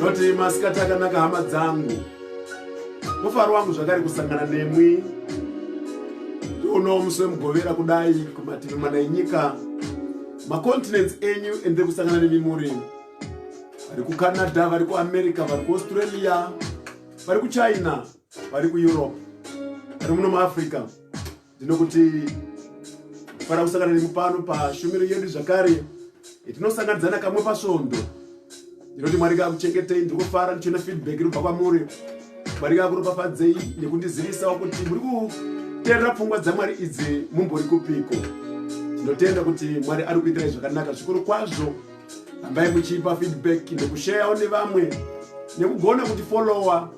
Noti masikati akanaka hama dzangu, mufaro wangu zvakare kusangana nemwi uno musi wemugovera kudai kumativi mana enyika macontinents enyu ende kusangana nemi muri vari kucanada vari kuamerica vari kuaustralia vari kuchina vari kueurope vari muno muafrica Ndinokuti fara kusangana nemi pano pashumiro yedu zvakare tinosanganidzana kamwe pasvondo ndinoti mwari kakuchengetei ndiri kufara ndichiona feedback inobva kwamuri mwari kakuropafadzei nekundizivisa kuti muri kuterera pfungwa dzamwari idzi mumbori kupiko tinotenda kuti mwari ari kuitirai zvakanaka zvikuru kwazvo ambai muchiipa feedback nekushayawo nevamwe nekugona kuti follower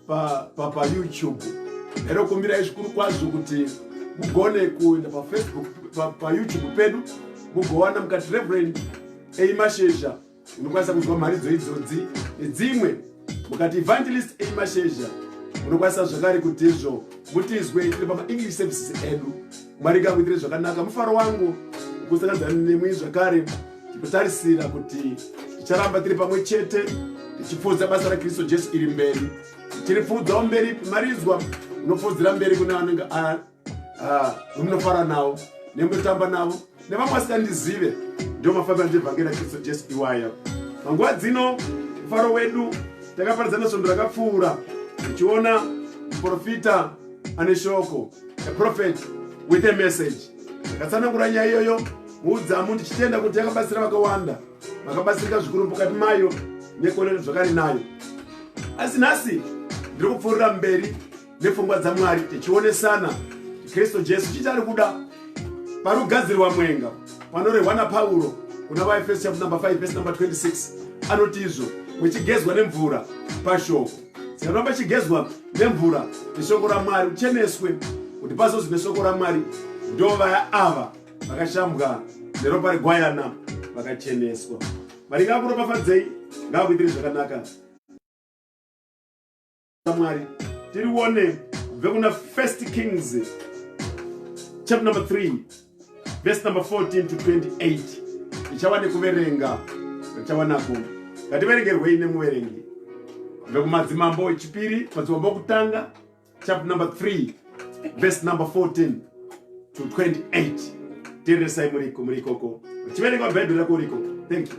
papayoutube pa, pa ndokumbirai zvikuru kwazvo kuti mugone kuenda pafacebook payoutube pa pedu mugowana mukati reverend eimashezha unokwanisa kunzwa mharidzo idzodzi nedzimwe mukati evangelist eimashezha unokwanisa zvakare kutizvo mutizwe tiri pamaenglish services edu mwari ngakuitire zvakanaka mufaro wangu kusakadzana nemwi zvakare ndinotarisira kuti ticharamba tiri pamwe chete tichipfuudza basa rakristu jesu iri mberi tiri pfuudzawo mberi pimaridzwa unopfuudzira mberi kune anenge amunofara nawo nemutotamba navo nevamwe vasikandizive ndiwo mafambiro andivhangeri akristu jesu iwayo panguva dzino mufaro wedu takaparidzana svondo rakapfuura tichiona muprofita ane shoko a prophet with a message takatsanangura nyaya iyoyo muudzamu ndichitenda kuti yakabatsira vakawanda vakabatsirika zvikuru mukati mayo nekuonera zvakari nayo asi nhasi ndiri kupfuurira mberi nepfungwa dzamwari tichionesana kristu jesu chiti ari kuda panogadzirwa mwenga panorehwa napauro kuna vaefeso chapter number 5 vese number 26 anoti izvo muchigezwa nemvura pashoko sikaramba chigezwa nemvura neshoko ramwari ucheneswe kuti pazozwi neshoko ramwari ndovaya ava vakashambwa neropa regwayana vakacheneswa maringa akuropafadzei ngakuitiri zvakanaka mwari tirione kubve kuna first kings chapter number 3 verse number 14 to 28 ichawa nekuverenga ichawa nako ngativerengerwei nemuverengi vekumadzimambo echipiri madzimambo okutanga chapter number 3 verse number 14 to 28 teeresai muriko murikoko uchiverenga bhaibheri rako urikoko thank you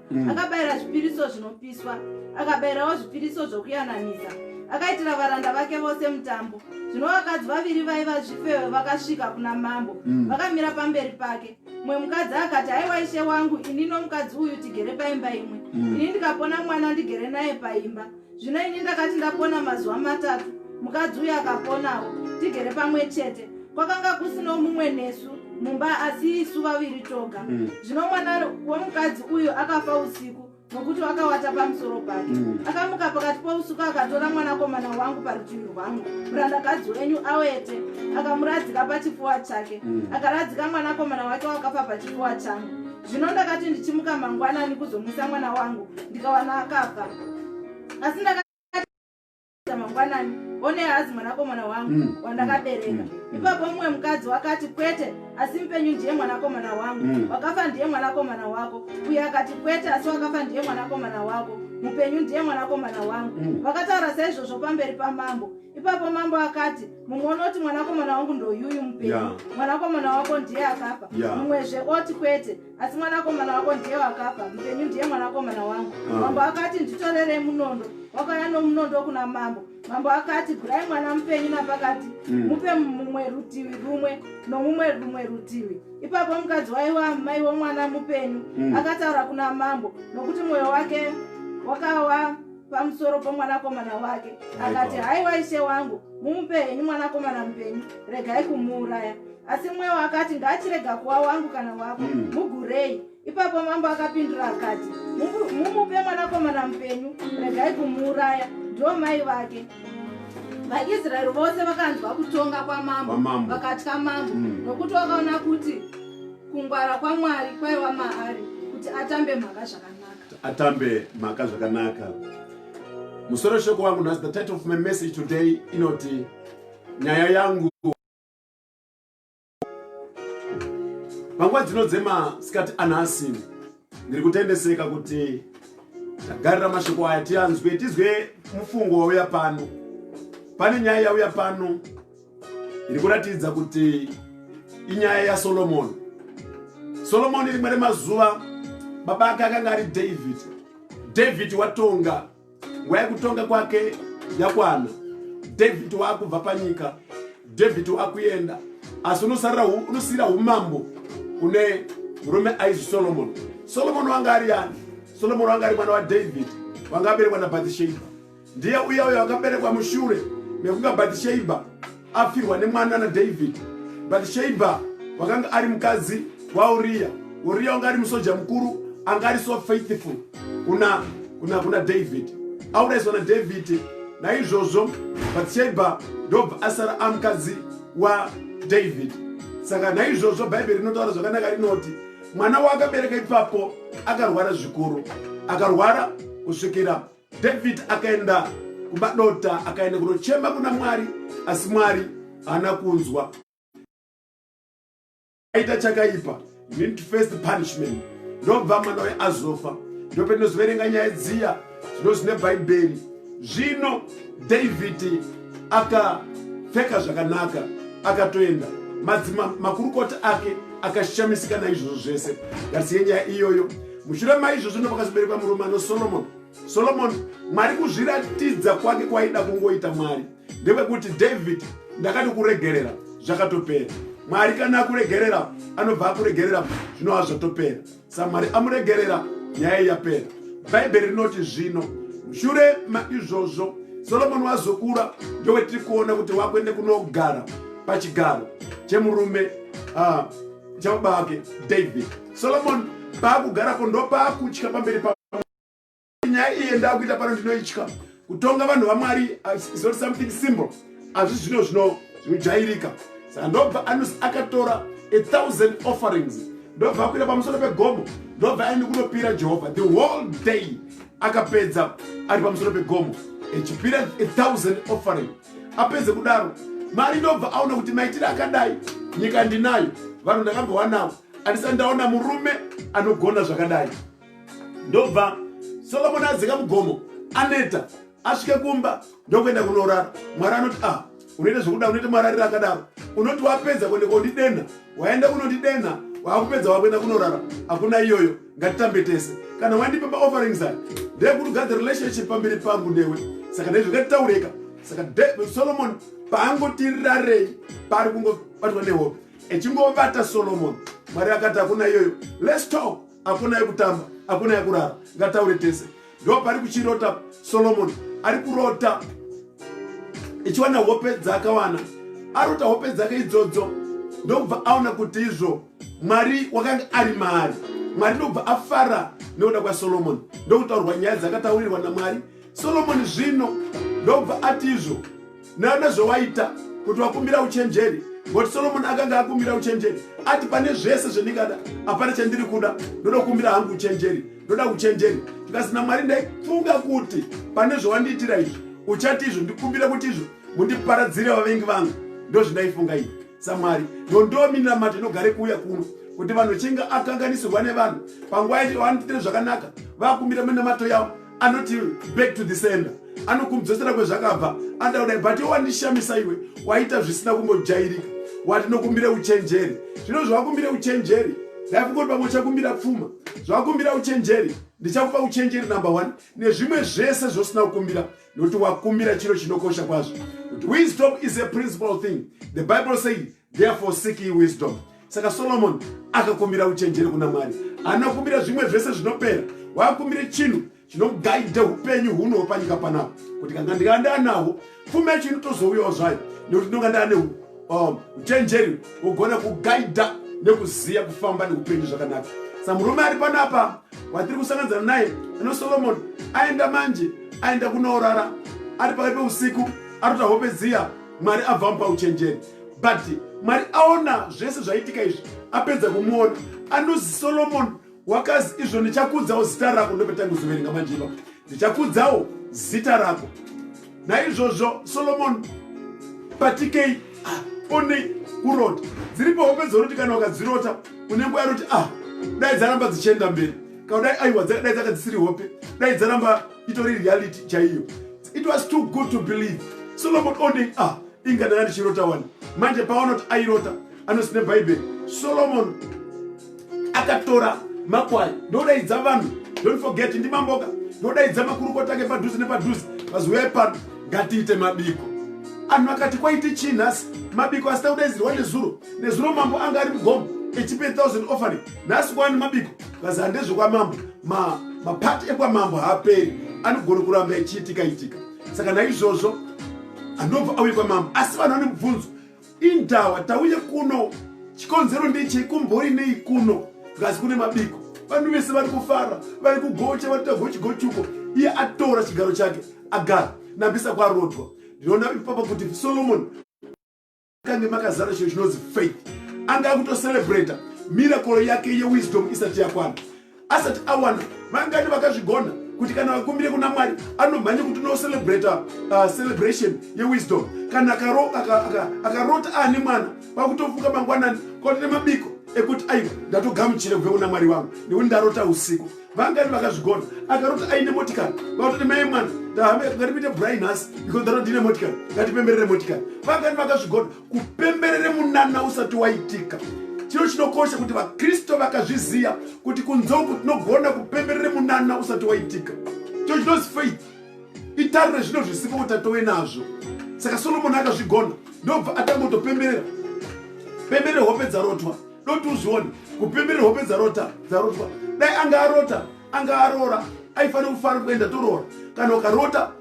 mm. akabayira zvipiriso zvinopiswa akabayirawo zvipiriso zvokuyananisa akaitira varanda vake vose mutambo zvino vakadzi vaviri vaiva zvifewe vakasvika kuna mambo mm. vakamira pamberi pake mumwe mukadzi akati haiwa ishe wangu ini nomukadzi uyu tigere paimba imwe mm. ini ndikapona mwana ndigere naye paimba zvino ini ndakati ndapona mazuva matatu mukadzi uyo akaponawo tigere pamwe chete kwakanga kusino mumwe nesu mumba asi isu vaviri toga mm. zvino mm. mwana womukadzi uyo akafa usiku nokuti wakawata pamusoro pake mm. akamuka pakati pousuku akatora mwanakomana wangu parutivi rwangu murandakadzi wenyu awete akamuradzika pachifuwa chake mm. akaradzika mwanakomana wake wakafa pachifuwa changu zvino ndakati ndichimuka mangwanani kuzomwisa mwana wangu ndikawana akafa asi ndakati mangwanani one hazi mwanakomana wangu mm. wandakabereka mm. mm. ipapo mumwe mukadzi wakati kwete asi mupenyu ndiye mwanakomana wangu mm. wakafa ndiye mwanakomana wako uye akati kwete asi wakafa ndiye mwanakomana wako mupenyu ndiye mwanakomana wangu mm. vakataura saizvozvo pamberi pamambo ipapo mambo akati mumwe unoti mwanakomana wangu ndoyuyu mupenyu yeah. mwanakomana wako ndiye akafa yeah. mumwezve oti kwete asi mwanakomana wako ndiye wakafa mupenyu ndiye mwanakomana wangu uh. mambo akati nditorerei munondo wakauya nomunondo kuna mambo mambo akati gurai mwana mupenyu napakati mm. mupe mumwe rutivi rumwe nomumwe rumwe rutivi ipapo mukadzi waiwa mai womwana mupenyu mm. akataura kuna mambo nokuti mwoyo wake wakawa pamusoro pomwanakomana wake akati haiwa ishe wangu mumupe henyu mwanakomana mupenyu regai kumuuraya asi mwewo akati ngaachirega kuwa wangu kana wako hmm. mugurei ipapo mambo akapindura akati mumupe mwanakomana mupenyu regai kumuuraya ndo mai vake vaisraeri vose vakanzwa kutonga kwamambo vakatya mambo hmm. nokuti vakaona kuti kungwara kwamwari kwaiva maari kuti atambe mhaka zvakanaka atambe mhaka zvakanaka musoro shoko wangu nhasi the title of my message today inoti nyaya yangu panguva dzino dzemasikati anhasi ndiri kutendeseka kuti tagarira mashoko aya tianzwe tizwe mufungo wauya pano pane nyaya yauya pano iri kuratidza kuti inyaya yasolomoni solomoni rimwe remazuva baba ake akanga ari david david watonga nguva yekutonga kwake yakwana david waakubva panyika david waakuenda asi unosiyira umambo kune murume aizi solomoni solomoni wanga ari yani solomoni wanga ari mwana wadavid wanga aberekwa nabathisheba Ndiye uya uyo akaberekwa mushure mekunga Bhatishebha afirwa nemwana naDhavhidhi. Bhatishebha wakanga ari mukadzi waUriya. Uriya wanga ari musoja mukuru anga ari so faithful kuna kuna kuna David aurayiswa na David naizvozvo Bathsheba ndobva asara amukadzi wa David saka naizvozvo bhaibheri rinotaura zvakanaka rinoti mwana waakabereka ipapo akarwara zvikuru akarwara kusvikira David akaenda kumba dota akaenda kunochema kuna Mwari asi Mwari haana kunzwa aita chakaipa need to face the punishment ndobva mwana uye azofa ndopendinozoverenga nyaya dziya zvino zvine bhaibheri zvino dhavhidhi akapfeka zvakanaka akatoenda madzima makurukota ake akashamisika naizvozvo zvese ngatisiye nyaya iyoyo mushure maizvozvo ndopakazoberekwa murume ano solomon solomon mwari kuzviratidza kwake kwaida kungoita mwari ndekwekuti david ndakati kuregerera zvakatopera mwari kana akuregerera anobva akuregerera zvinova zvatopera samwari amuregerera nyaya yapera bhaibheri rinoti zvino mushure maizvozvo solomoni wazokura ndowetiri kuona kuti wakuende kunogara pachigaro chemurume ah, chababa vake david Solomon paakugarapo ndopaakutya pamberi pa nyaya iye ndakuita pano ndinoitya kutonga vanhu vamwari is not something simple azvi zvino zvino zvinojairika saka ndobva anos akatora a thousand offerings ndobva akuita pamusoro pegomo ndobva aende kunopira jehovha the whole day akapedza ari pamusoro pegomo echipira a thousand offering apedze kudaro mari ndobva aona kuti maitire akadai nyika ndinayo vanhu ndakambowanawo andisati ndaona murume anogona zvakadai ndobva solomoni adzika mugomo aneta asvike kumba ndokuenda kunorara mwari anoti a ah, unoita zvekuda unoita mararira akadaro unoti wapedza kuende kondidenha waenda kunondidenha waakupedza wakuenda kunorara hakuna iyoyo ngatitambe tese kana wandipa maofferings ayo ndeyekuti ugade relationship pamberi pangu newe saka ndezvo ngatitaureka saka solomon paangotirarei pari kungobatwa nehope echingovata solomoni mwari akati hakuna iyoyo lets talk hakuna yekutamba hakuna yekurara ngataure tese ndo pari kuchirota solomoni ari kurota echiwana hope dzaakawana arota hope dzake idzodzo ndokubva aona kuti izvo mwari wakanga ari maari mwari ndokubva afara nekuda kwasolomoni ndokutaurwa nyaya dzakataurirwa namwari solomoni zvino ndokubva ati izvo nayo nezvawaita kuti wakumbira uchenjeri ngoti solomoni akanga akumbira uchenjeri ati pane zvese zvendingada hapana chandiri kuda ndonokumbira hangu uchenjeri ndoda uchenjeri ndikasina mwari ndaifunga kuti pane zvawandiitira izvi uchati izvo ndikumbira kuti izvo mundiparadzire vavengi vangu ndozvindaifunga izvi samwari ndondoo minamata inogare kuuya kuno kuti vanhu vachinge akanganisirwa nevanhu panguva yacho vanotiitira zvakanaka vakumbira minamato yavo anoti back to the sender anokumdzosera kwezvakabva anoda kudai but iwo wandishamisa iwe waita zvisina kumbojairika wati nokumbira uchenjeri zvino zvawakumbira uchenjeri ndaikungoti pamwe uchakumbira pfuma zvawakumbira uchenjeri ndichakupa uchenjeri number one nezvimwe zvese zvosina kukumbira Nokuti wakumbira chiro chinokosha kwazvo. Nokuti wisdom is a principal thing. The Bible says, therefore seek ye wisdom. Saka Solomon akakumbira uchenjeri kuna Mwari. Anokumbira zvimwe zvese zvinopera. Wakumbire chinhu chinogaidha upenyu huno panyika panapa. Kuti kanga ndikanda anahwo, pfuma yacho inotozouyawo zvayo. Nokuti ndinonga ndane um, uchenjeri ugone kugaidha nekuziya kufamba neupenyu zvakanaka sa murume ari panapa watiri kusanganizana naye ano solomoni aenda manje aenda kunoorara ari pakati peusiku arota hope dziya mwari abva mupa uchenjeri but mwari aona zvese zvaitika izvi apedza kumuona anozi solomoni wakazi izvo ndichakudzawo zita rako ndopetanga kuzoverenga manje ipapo ndichakudzawo zita rako naizvozvo solomoni patikei ah, onei kurota dziripo hope dzoroti kana ukadzirota unenge uyaroti a ah, dai dzaramba dzichienda mberi kana dai aiwa dai dzaka dzisiri hope dai dzaramba itori reality chaiyo it was too good to believe solomon onei a ah, inga ndanga ndichirota wani manje paonoti airota anosine bhaibheri solomon akatora makwai ndodaidza vanhu don't forget ndimamboka ndodaidza makurukota ake padhuze nepadhuze vaziuya ipano ngatiite mabiko anhu akati kwaiti chii nhasi mabiko asita kudaidzirwa nezuro nezuro mambo anga ari mugomo echipe 1000 offering nhasi kwani mabiko vazi handezvekwamambo mapati ma ekwamambo haaperi anogona kuramba echiitika itika saka naizvozvo anobva auye kwamambo asi vanhu vane mubvunzo Indawa tauye kuno. Chikonzero ndechei kumbori nei kuno. Ngazi kune mabiko. Vanhu vese vari kufara, vari kugocha, vari tagochi gochuko. Iye atora chigaro chake, agara. Nambisa kwarodwa. Ndinoona ipapa kuti Solomon kange makazara chinhu chinonzi faith. Anga akutocelebrata miracle yake yewisdom isati yakwana. asati awana vangani vakazvigona kuti kana vakumbire kuna mwari anomhanya kuti unocelebratr uh, celebration yewisdom kana akarota aane mwana vakutofuka mangwanani koti nemabiko ekuti aiwa ndatogamuchira kubve kuna mwari vangu nekuti ndarota usiku vangani vakazvigona akaroti aine motikari vakutoti mai mwana ngatipite brai nhasi because ndaroti ndine motikari ngatipemberere motikari vangani vakazvigona kupemberere munana usati waitika chiro chinokosha kuti vakristu vakazviziva kuti kunze uku tinogona kupemberere munana usati waitika chiro chinozi faith itariro zvino zvisipo kuti atove nazvo saka solomoni akazvigona ndobva atangotopemberera pemberere hope dzarotwa doti uzvione kupemberera hope dzarota dzarotwa dai anga arota anga aroora aifanira kufara kuenda toroora kana ukarota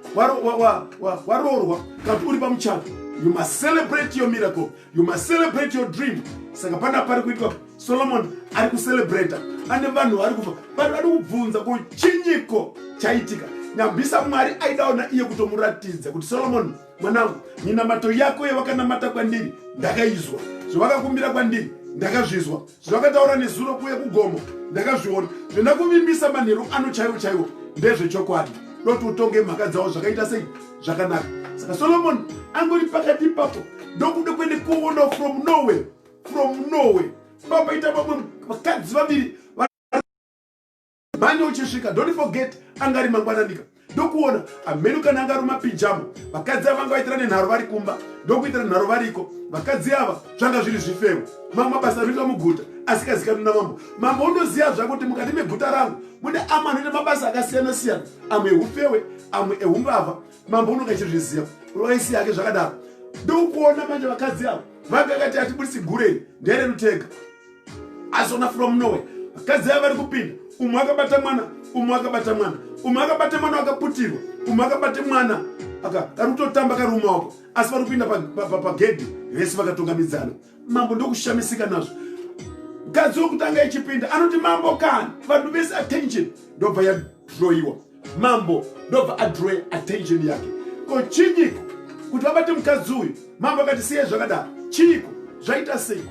waroorwa kati uri pamuchato you must celebrate your miracle you must celebrate your dream saka pana pari kuitwa solomon ari kucelebrata ane vanhu vari kubva vanhu vari kubvunza ko chinyiko chaitika nyambisa mwari aidawo naiye kutomuratidza kuti solomon mwanangu minamato yako yevakanamata kwandiri ndakaizwa zvavakakumbira kwandiri ndakazvizwa zvakataura nezuro kuuye kugomo ndakazviona zvendakuvimbisa manheru ano chaiwo chaiwo ndezvechokwadi doti utonge mhaka dzawo zvakaita sei zvakanaka saka solomoni angori pakati ipapo ndokuda kuende kuona from norway from norway papaita vamwe vakadzi vaviri mhani uchisvika don't forget angari mangwananika ndokuona amhenu kana anga ruma pijamo vakadzi ava vanga vaitira nenharo vari kumba ndokuitira nharo variko vakadzi ava zvanga zviri zvifewo mamwe mabasa anoitwa muguta asikazikani namambo mambo unoziva zvako kuti mukati meguta rangu mune amwe anoita mabasa akasiyana siyana amwe eufewe amwe eumbavha mambo unonga chizviziva roisi yake zvakadaro ndokuona manje vakadzi ava vanga kati atibudisi gurei ndererutega azona from norway vakadzi ava vari kupinda umwe akabata mwana umwe akabata mwana umwe akabata mwana akaputirwa umwe akabata mwana aka kari kutotamba kari mumaoko asi vari kupinda pagedhi vese vakatungamidzana mambo ndokushamisika nazvo mukadzi wekutanga ichipinda anoti mambo kani vanhu vese attention ndobva yadroiwa mambo ndobva adraw attention yake ko chinyiko kuti vabate mukadzi uyu mambo akati siye zvakadaro chiiko zvaita sei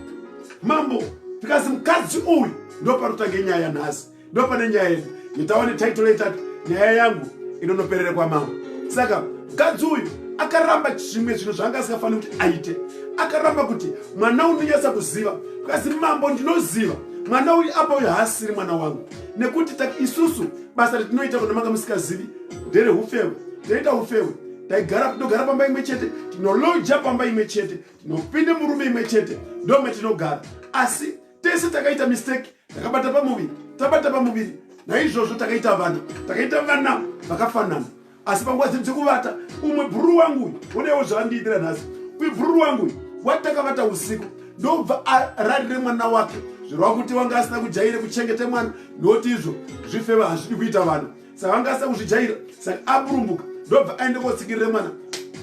mambo because mukadzi uyu ndopanotange nyaya nhasi ndopane nyaya yedu yetawa netitle yetati nyaya yangu inonoperere kwamambo saka mukadzi uyu akaramba zvimwe zvinhu zvaanga asingafaniri kuti aite akaramba kuti mwana unonyatsa kuziva because mambo ndinoziva mwana uyu apa uyu haasiri mwana wangu nekuti isusu basa retinoita kuna manga musikazivi ndere ufewe toita ufewe taigara tinogara pamba imwe chete tinoloja pamba imwe chete tinopinde murume imwe chete ndome tinogara asi tese takaita mistake takabata pamuviri tabata pamuviri naizvozvo takaita vana takaita vana vakafanana asi panguva dziri dzekuvata umwe bhururu wangu uyu onewo zvaandiitira nhasi uyu bhururu wangu uyu watakavata usiku ndobva ararire mwana wake zvirova kuti wanga asina kujaire kuchengeta mwana noti izvo zvifeva hazvidi kuita vanhu saka vanga asina kuzvijaira saka aburumbuka ndobva aende kotsikirira mwana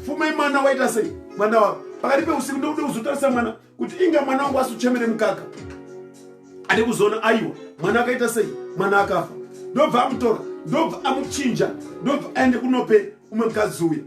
fumai mwana waita sei mwana wavo pakati peusiku ndokuda kuzotarisa mwana kuti inga mwana wangu asuchemere mukaka ade kuzoona aiwa mwana akaita sei mwana akafa ndobva amutora ndobva amuchinja ndobva aende kunope umwe mukadzi uya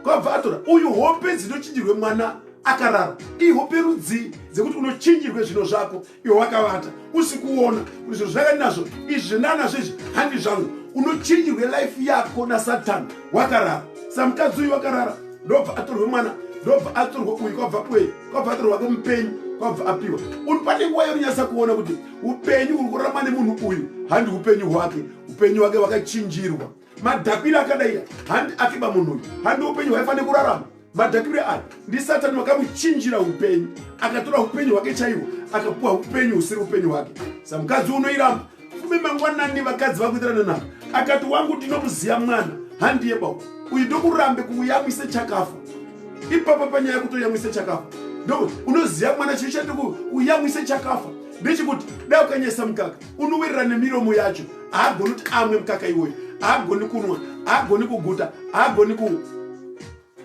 kwabva atora uyu hope dzinochinjirwe mwana akarara ihope rudzii dzekuti unochinjirwe zvino zvako iwe wakavata usikuona kuti zvinhu zvakati nazvo izvi nanazvo izvi handi zvangu unochinjirwe life yako nasatani wakarara samukadzi uyu wakarara ndobva atorwe mwana ndobva atorwa uyu kwabva kwei kwabva atorwa wake mupenyu kwabva apiwa uri pane nguva yeunyasa kuona kuti upenyu uri kurarama nemunhu uyu handi upenyu hwake upenyu hwake wakachinjirwa madhakbire akadai handi akiba munhu uyu handi upenyu hwaifanira kurarama madhakbire aya ndisatani wakamuchinjira upenyu akatora upenyu hwake chaiwo akapuwa upenyu husiri upenyu hwake samukadzi unoiramba fume mangwanani vakadzi vakuitirana navo akati wangu ndinomuziya mwana handiye bau uyu ndokurambe kuuyamwise chakafa ipapa panyaya kutoyamwise chakafa ndo unoziya mwana chii chatikuuyamwise chakafa ndechikuti dai ukanyesa mukaka unowerera nemiromo yacho haagoni kuti amwe mukaka iwoyo haagoni kunwa haagoni kuguta haagoni ku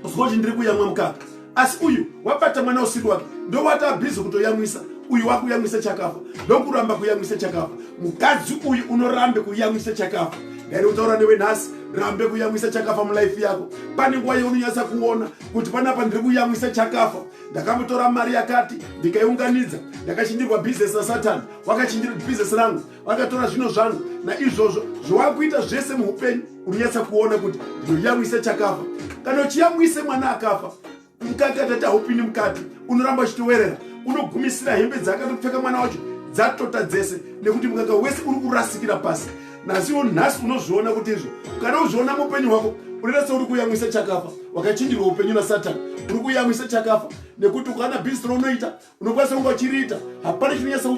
zvochi ndiri kuyamwa mukaka asi uyu wabata mwana usiri wake ndowati abhizi kutoyamwisa uyu wakuyamwisa chakafa ndokuramba kuyamwisa chakafa mukadzi uyu unorambe kuyamwisa chakafa ndari kutaura newe nhasi rambe kuyamwisa chakafa mulife yako pane nguva yeunonyatsa kuona kuti panapa ndiri kuyamwisa chakafa ndakamutora mari yakati ndikaiunganidza ndakachindirwa bhizinesi nasatani wakachinjira kuti bhizinesi rangu vakatora zvino zvangu naizvozvo zvowakuita zvese muupenyu unonyatsa kuona kuti ndinoyamwisa chakafa kana uchiyamwise mwana akafa mukati atati haupindi mukati unoramba uchitowerera unogumisira hembe dzaakatopfeka mwana wacho dzatota dzese nekuti mukaka wese uri kurasikira pasi nasiwo nhasi unozviona kuti izvo kana uzviona muupenyu hwako unoita seuri kuyamwisa chakafa wakachinjirwa upenyu nasatani uri kuyamwisa chakafa nekuti ukaona bhizinesi rounoita unokwanisa kunge uchiriita hapana chinonyatsa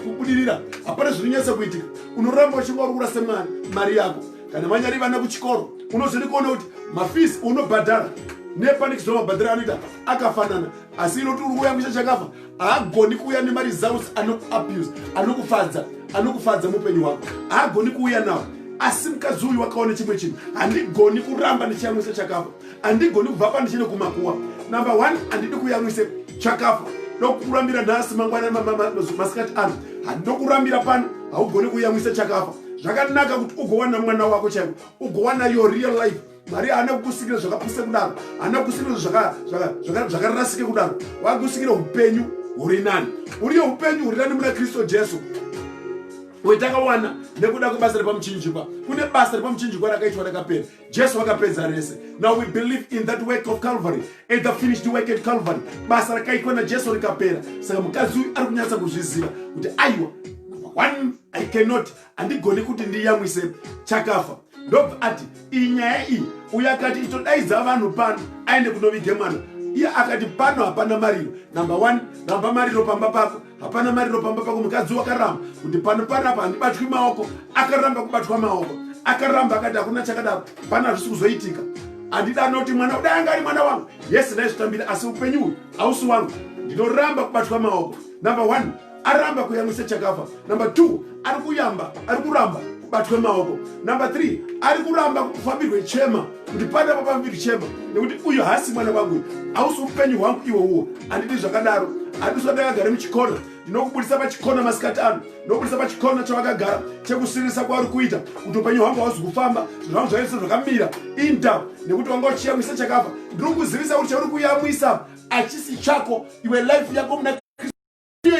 kubudirira hapana zvinonyatsa kuitika unoramba uchinge uri kurasa mwana mari yako kana vanyari vana kuchikoro unozoenda kuona kuti mafisi unobhadhara nepanikizwa mabhadhara anoita akafanana asi inoti uri kuyambisa chakafa haagoni kuuya nemari zaus anokuabuse anokufadza anokufadza muupenyu hwako haagoni kuuya nawo asi mukadzi uyu wakaona chimwe chinhu handigoni kuramba ndichiyamwisa chakafa andigoni kubva pandichine kumakuwa number one andidi kuyamwise chakafa ndokurambira nhasi mangwana masikati ano handokurambira pano haugoni kuyamwisa chakafa zvakanaka kuti ugowana mwana wako chaiko ugowana your real life mwari haana kukusikira zvakapisa kudaro haana kukusikira zvakarasike kudaro wakusikira upenyu huri nani uriyo upenyu huri nani muna kristu jesu wetakawana nekuda kwebasa repamuchinjikwa kune basa repamuchinjikwa rakaitwa rakapera jesu vakapedza rese now we believe in that work of calvary and the finished work at calvary basa rakaitwa najesu rikapera saka mukadzi uyu ari kunyatsa kuzviziva kuti aiwa one i cannot handigoni kuti ndiyamwise chakafa ndobva ati iyi nyaya iyi uyo akati itodaidza vanhu pano aende kunovige mwana iye akati pano hapana mariro number one ramba mariro pamba pako hapana mariro pamba pako mukadzi wakaramba kuti pano panapa handibatwi maoko akaramba kubatwa maoko akaramba akati hakuna chakadaro pana hazvisi kuzoitika handida anoti mwana kudai anga ari mwana wangu yese ndaizvitambira asi upenyu uyu hausi wangu ndinoramba kubatwa maoko number one aramba kuyamwisa chakafa number two ari kuyamba ari kuramba kubatwe maoko number three ari kuramba kufambirwe chema kuti pane vapambiri chema nekuti uyu haasi mwana wangu hausi upenyu hwangu iwo uwo handidi zvakadaro handiswa ndakagare muchikona ndinokubudisa pachikona masikati ano ndinokubudisa pachikona chawakagara chekusiririsa kwauri kuita kuti upenyu hwangu hauzi kufamba zvinhu zvangu zvaise zvakamira inda nekuti wanga uchiyamwisa chakafa ndiri kuzivisa kuti chauri kuyamwisa achisi chako iwe life yako muna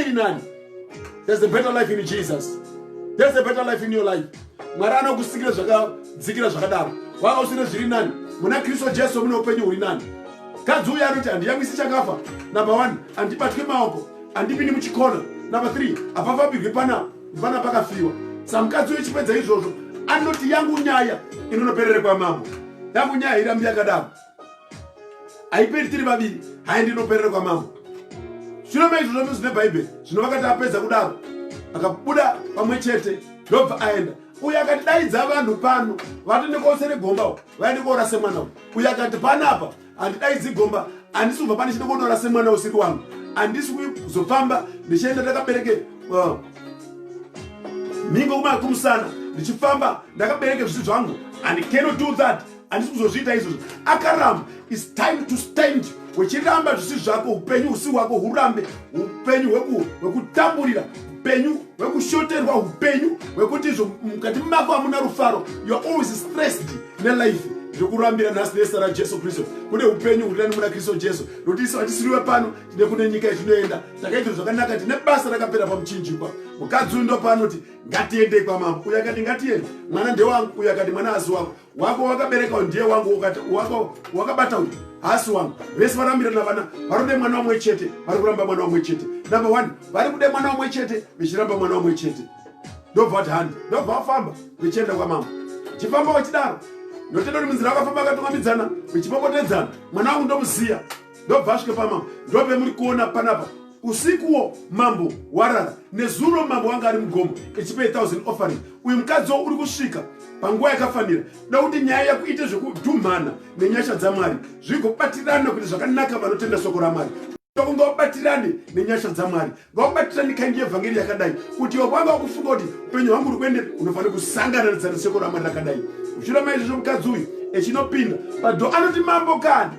iri nani there's a better life in jesus there's a better life in your life mwari anokusikira zvakadzikira zvakadaro wanga usine zviri nani muna kristu jesu mune upenyu huri nani kadzi uya anoti handiyamwisi chakafa number one handibatwi maoko handipindi muchikona number three hapafambirwi pana vana pakafiwa samukadzi uyo chipedza izvozvo anoti yangu nyaya inonoperere kwamambo yangu nyaya irambi yakadaro haiperi tiri vaviri haendi inoperera kwamambo shure maizvo zvose zvine bhaibheri zvino vakati apedza kudaro akabuda pamwe chete ndobva aenda uye akati daidza vanhu pano vati ndikosere gomba u vaende koora semwana u uye akati panapa handidaidzi gomba handisi kubva pane chide konoora semwana usiri wangu handisi kuzofamba ndichienda ndakabereke uh, mhingo kumusana ndichifamba ndakabereke zvisu zvangu and cannot do that handisi kuzozviita izvozvo akaramba its time to stand wechiramba zvisi zvako upenyu husi hwako hurambe upenyu hwekutamburira upenyu hwekushoterwa upenyu hwekuti izvo mukati mako hamuna rufaro youare always stressed nelife zvekurambira nhasi nesa rajesu kristu kune upenyu huri nani muna kristu jesu nokuti isu hatisiriwe pano tine kune nyika yetinoenda takaitiro zvakanaka tine basa rakapera pamuchinjikwa mukadzi uyu ndopaanoti ngatiendei kwamambo uyo akati ngatiende mwana ndewangu uyo akati mwana asi wako wako wakabereka ndiye wangu wako wakabata uyu hasi wangu vese varambirana vana varikude mwana wamwe chete vari kuramba mwana wamwe chete number one vari kude mwana wamwe chete vechiramba mwana wamwe chete ndobva vati handi ndobva vafamba vechienda kwamambo chifamba wachidaro notenda kuti munzira wakafamba akatungambidzana vechipopotedzana mwana wangu ndomuziya ndobva asvika pamambo ndope muri kuona panapa usikuwo mambo warara nezuro mambo wanga ari mugomo echipa 1000 offering uyu mukadzi wo uri kusvika panguva yakafanira da kuti nyaya yako ite zvekudhumhana nenyasha dzamwari zvigobatirana kuti zvakanaka vanotenda soko ramwari kunga vabatirane nenyasha dzamwari vakubatira ndikaindi yevhangeri yakadai kuti ivo kwanga wakufunga kuti upenyu hwangu uri kuende unofanira kusangana nezaniseko ramwari rakadai uchira maizvozvo mukadzi uyu echinopinda pado anoti mambo kani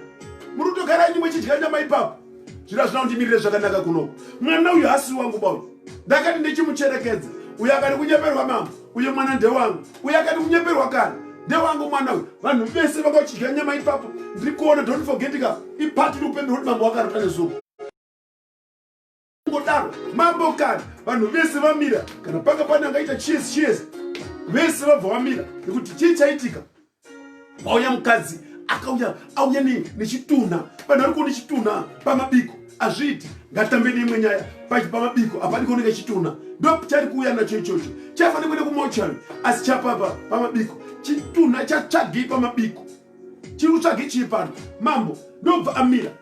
muri kutogara nyimwe chidya nyama ipapo zviro hazvina kundimirire zvakanaka kuno mwana uyu hasi wangu bau ndakati ndichimucherekedza uyo akati kunyeperwa mambo uyo mwana ndewangu uyo akati kunyeperwa kani ndewangu mwana uyu vanhu vese vanga vachidya nyama ipapo ndiri kuona don't forgetika ipati ri upenyu roti mambo wakarota nezuva ngodaro mambo kana vanhu vese vamira kana panga pane angaita chiesi chiesi vese vabva vamira nekuti chii chaitika vauya mukadzi akauya auya nechitunha vanhu vari kuona chitunha pamabiko azviiti ngatambe neimwe nyaya pamabiko apani kuoneka chitunha ndo chari kuuya nacho ichocho chafanira kuenda kumochari asi chapapa pamabiko chitunha chatsvagei pamabiko chiri kutsvagei chii pano mambo ndobva amira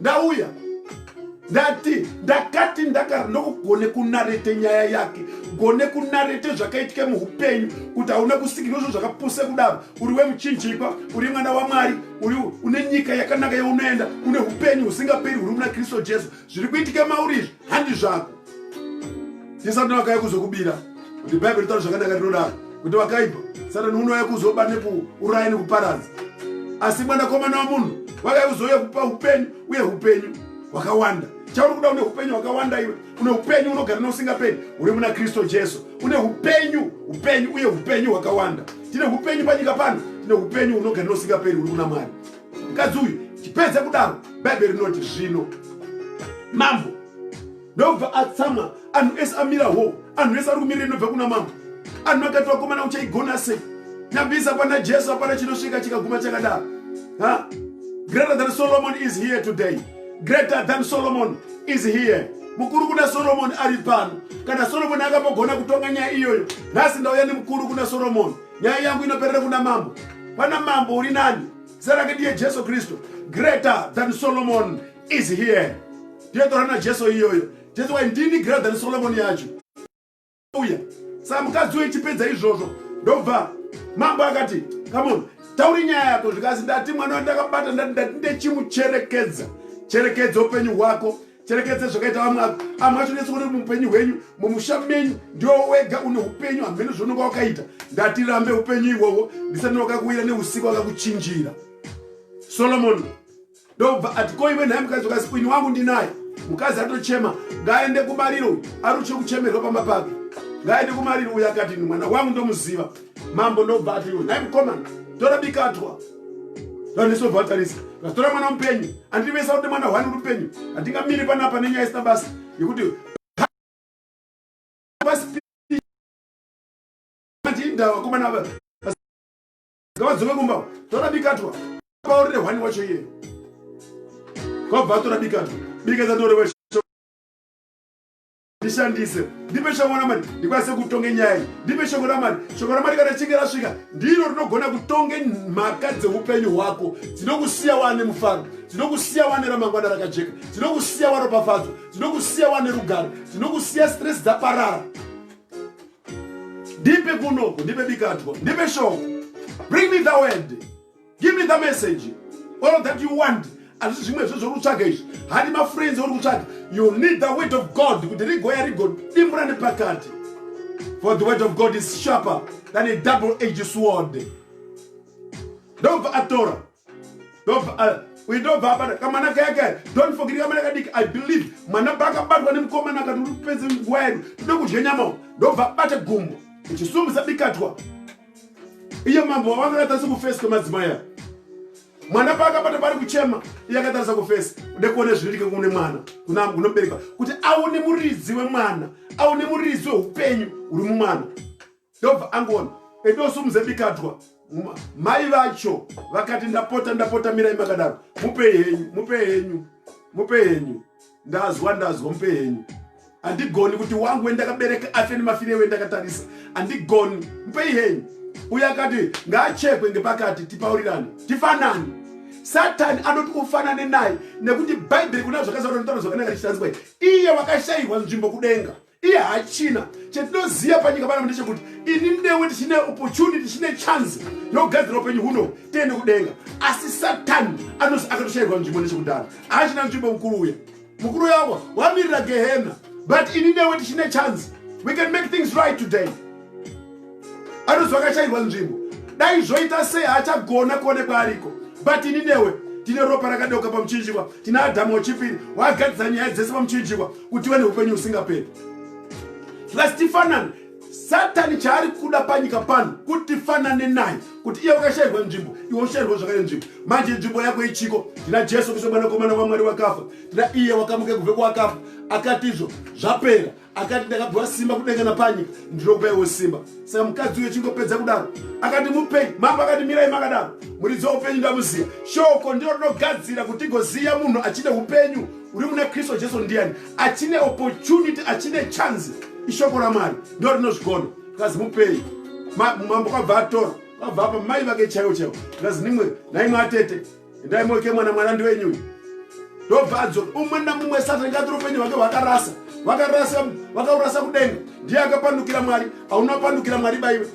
ndauya ndati ndakati ndaka ndokugone kunarete nyaya yake gone kunarete zvakaitike muupenyu kuti hauna kusikirwa zvo zvakapuse kudaro uri wemuchinjipa uri mwana wamwari uri une nyika yakanaka yaunoenda une upenyu husingaperi huri muna kristu jesu zviri kuitike mauri izvi handi zvako Ndi Satani wakauya kuzokubira. Kuti Bible ritaura zvakanaka rinodaro. Kuti wakaipa. Satani unouya kuzoba nekuuraya nekuparadza. Asi mwanakomana wamunhu wakauya kuzouya kupa upenyu uye upenyu hwakawanda chauri kuda une upenyu hwakawanda iwe une upenyu unogara neusingaperi uri muna kristu jesu une upenyu upenyu uye upenyu hwakawanda tine upenyu panyika pano tine upenyu unogara neusingaperi uri kuna mwari mukadzi uyu chipedza kudaro bhaibheri rinoti zvino mambo ndobva atsamwa anhu ese amira ho anhu ese ari kumirira inobva kuna mambo anhu akati vakomana uchaigona sei nyambisa pana jesu apana chinosvika chikaguma chakadaro ha greater than solomon is here today greater than solomon is here mukuru kuna soromoni ari pano kana soromoni akambogona kutonga nyaya iyoyo nhasi ndauya nemukuru kuna soromoni nyaya yangu inoperera kuna mambo pana mambo uri nani zita rake ndiye jesu kristu greater than solomon is here ndiye tora najesu iyoyo jesu wai ndini greater than solomon yacho uya saa mukadzi uyo ichipedza izvozvo ndobva mambo akati kamon tauri nyaya yako zvikazi ndati mwana wandakabata ndati ndati ndechimucherekedza cherekedza upenyu hwako cherekedze zvakaita vamwe ava amwe acho nese kuti muupenyu hwenyu mumusha menyu ndiwo wega une upenyu hamheno zvaunonga wakaita ndatirambe upenyu ihwohwo ndisati wakakuwira neusiku wakakuchinjira solomoni ndokubva ati ko iwe nhai mukadzi ukasi ini wangu ndinaye mukadzi atochema ngaaende kumariro aruche kuchemerwa pamba pake ngaaende kumariro uyo akati mwana wangu ndomuziva mambo ndobva ati iwe nhai mukomana tora bikatwa vandisobva vatarisa vatora mwana mupenyu andivesa kuti mwana hwani rupenyu handingamiri panapa nenyaya isina basa yekuti ndava vakomana ava ngavadzoke kumba tora bikatwa paurire hwani wacho iye kwabva atora bikatwa bikatwa torewa ndishandise ndipe shoko ramwari ndikwanise kutonge nyaya iyi ndipe shoko ramwari shoko ramwari kana chinge rasvika ndiro rinogona kutonge mhaka dzeupenyu hwako dzinokusiya wane mufaro dzinokusiya wane ramangwana rakajeka dzinokusiya waropafadzo dzinokusiya wane rugaro dzinokusiya stress dzaparara ndipe kunoko ndipe bikatwa ndipe shoko bring me the word give me the message all that you want hazvisi zvimwe zve zvori kutsvaga izvi hadi mafriends auri kutsvaga you need the word of god kuti rigoya rigodimbura nepakati for the word of god is sharper than a double age sword ndobva atora ndobva uindobva abata kamwana kayakaya don't forget kamwana kadiki i believe mwana paakabatwa nemukomana akati uri kupedze nguva yedu tode kudya nyama ndobva abate gumbo ichisumisa bikatwa iye mambo wavo akakatarisa kufesi kwemadzimai aya mwana paakabata pari kuchema iye akatarisa kufesi ude kuone zvinoitike kune mwana kunobereka kuti aone muridzi wemwana aone muridzi weupenyu huri mumwana ndobva angoona edosumuze bikadwa mai vacho vakati ndapota ndapota mirai makadaro mupe henyu mupe henyu mupe henyu ndazwa ndazwa mupe henyu handigoni kuti wangu wendakabereka afe nemafire wendakatarisa handigoni mupei henyu uye akati ngaachekwe ngepakati tipaurirane tifanane satani anoti ufanane naye nekuti bhaibheri kuna zvakazaa notaura zvakanaka richitariswa iye wakashayirwa nzvimbo kudenga iye hachina chetinoziva panyika pano ndechekuti ini newe tichine opportunity tichine chance yogadzira upenyu huno tiende kudenga asi satani anozi akatoshairwa nzvimbo nechekudaro haachina nzvimbo mukuru uya mukuru yavo wamirira gehena but ini newe tichine chance we can make things right today anonzi vakashairwa nzvimbo dai zvoita sei haachagona kuonekwa ariko but ini newe tine ropa rakadeuka pamuchinjikwa tine adhamu wechipiri waagadzisa nyaya dzese pamuchinjikwa kuti iwe neupenyu husingaperi plus tifanane satani chaari kuda panyika pano kuti tifanane naye kuti iye wakashairwa nzvimbo iwe ushairwa zvakare nzvimbo manje nzvimbo yako ichiko tina jesu kristu mwanakomana wamwari wakafa tina iye wakamuke kubve kwakafa akatizvo zvapera akati ndakapiwa simba kudenga napanyika ndinopaiwo simba saka mukadzi uyo chingopedza kudaro akati mupenyu mambo akati mirai makadaro muridzi waupenyu ndamuziva shoko ndiro rinogadzira kuti tigoziva munhu achine upenyu uri muna kristu jesu ndiyani achine opportunity achine chance ishoko ramwari ndo rinozvigona kazi mupei mambo kwabva atora kwabva apa mai vake chaiwo chaiwo kazi nimwe naimwe atete Endai moke mwana mwana ndiwenyu uyu. Ndobva adzoka umwe namumwe Satani ngatiro upenyu hwake hwakarasa. Vakarasa vakaurasa kudenga. Ndiye akapandukira Mwari. Hauna pandukira Mwari baiwe.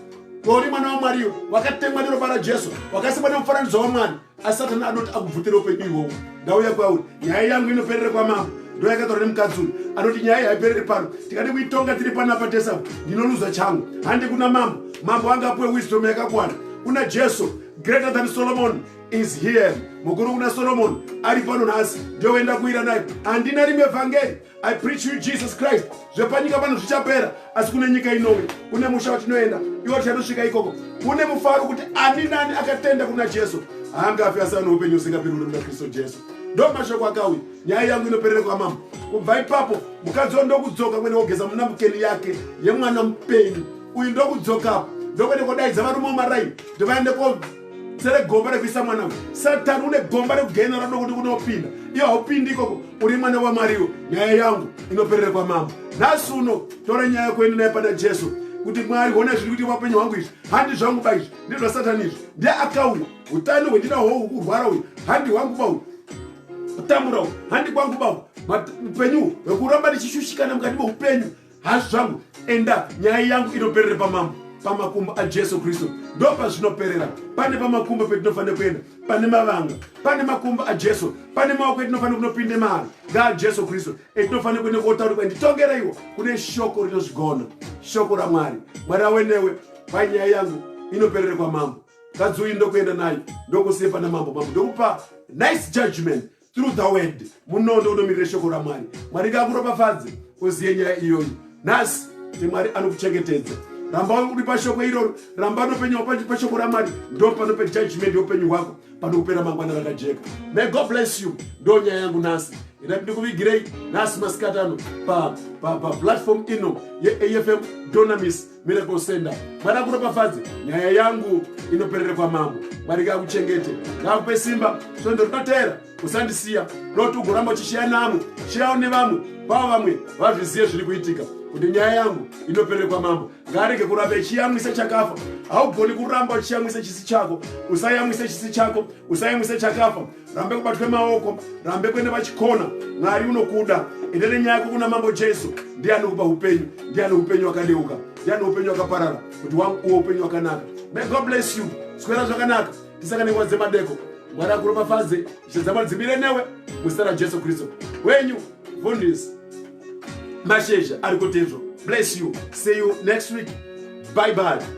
Kwauri mwana waMwari iwe wakatemwa neropa raJesu wakasikwa nemufananidzo waMwari. Asi Satani anoti akubvutira upenyu ihwohwo. Ndauya kwauri. Nyaya yangu inoperera kwamambo. ndoyakataura nemukadzi uyu anoti nyaya haipereri pano tikadi kuitonga tiri panapa tesa ndinoluza changu handi kuna mambo mambo anga apuwe wisdom yakakwana kuna jesu greater than solomon is here mukuru kuna solomoni ari pano nhasi ndoenda kuira naye handina rimwe vhangeri i preach you jesus christ zvepanyika pano zvichapera asi kune nyika inouya kune musha watinoenda iwo tichanosvika ikoko kune mufaro kuti ani nani akatenda kuna jesu haangafi asi ano upenyu usingapiri uri muna kristu jesu ndo mashoko akauya nyaya yangu inoperera kwamama kubva ipapo mukadzi wa ndokudzoka kwene wogeza muna mukeni yake yemwana mupenyu uyu ndokudzokapo ndokwene kodaidza varume womaraini ndivaende ko sere gomba rekuisa mwana uyu satani une gomba rekugena rado kuti kunopinda iyo haupindi ikoko uri mwana wamwariwo nyaya yangu inoperere kwamambo nhasi uno tora nyaya kuenda naye pana jesu kuti mwari hona zviri kuti vapenyu hwangu izvi handi zvangu ba izvi ndezvasatani izvi ndi akauya utano hwendina hwo kurwara uyu handi hwangu ba uyu kutambura uyu handi kwangu ba uyu upenyu hwekuramba ndichishushikana mukati meupenyu hazvi zvangu enda nyaya yangu inoperere pamambo pamakumbo ajesu kristu ndo pazvinoperera pane pamakumbo petinofanira kuenda pane mavanga pane makumbo ajesu pane maoko etinofanira kunopinde mari ngaajesu kristu etinofanira kuenda kotaura kwa nditongereiwo kune shoko rinozvigona shoko ramwari mwari awe newe pai nyaya yangu inoperere kwamambo kadzi uyu ndokuenda nayo ndokusiye pana mambo mambo ndokupa nice judgment through the word munondo unomirira shoko ramwari mwari ngakuropafadze uziye nyaya iyoyi nhasi kuti mwari anokuchengetedza ramba uri pashoko iroro ramba nopenyu pashoko ramwari ndo panope judgment youpenyu hwako panokupera mangwana rakajeka may god bless you ndo nyaya yangu nhasi ina ndikuvigirei nhasi masikatano paplatform ino yeafm donamis Miracle Center. Mwana kuropafadze nyaya yangu inoperere kwamambo. Mwari ngakuchengete, ngakupe simba. Svondo rinotera usandisiya, not ugoramba uchishiya namwe, shiyawo nevamwe, pavo vamwe vazviziye zviri kuitika kuti nyaya yangu inoperere kwamambo. Ngaarege kuramba ichiyamwisa chakafa. Haugoni kuramba uchiyamwisa chisi chako, usayamwise chisi chako, usayamwise chakafa. rambe kubatwe maoko rambe kwene vachikona mwari unokuda ende nenyaya yako kuna mambo jesu ndiye anokupa upenyu ndiye ane upenyu wakadeuka ndiye ane upenyu wakaparara kuti wanguwo upenyu wakanaka may god bless you swera zvakanaka tisangane nguva dzemadeko mwari akuropafadze zvedzamari dzimire newe muzita rajesu kristu wenyu vundis mashezha ari kutezvo bless you see you next week bye bye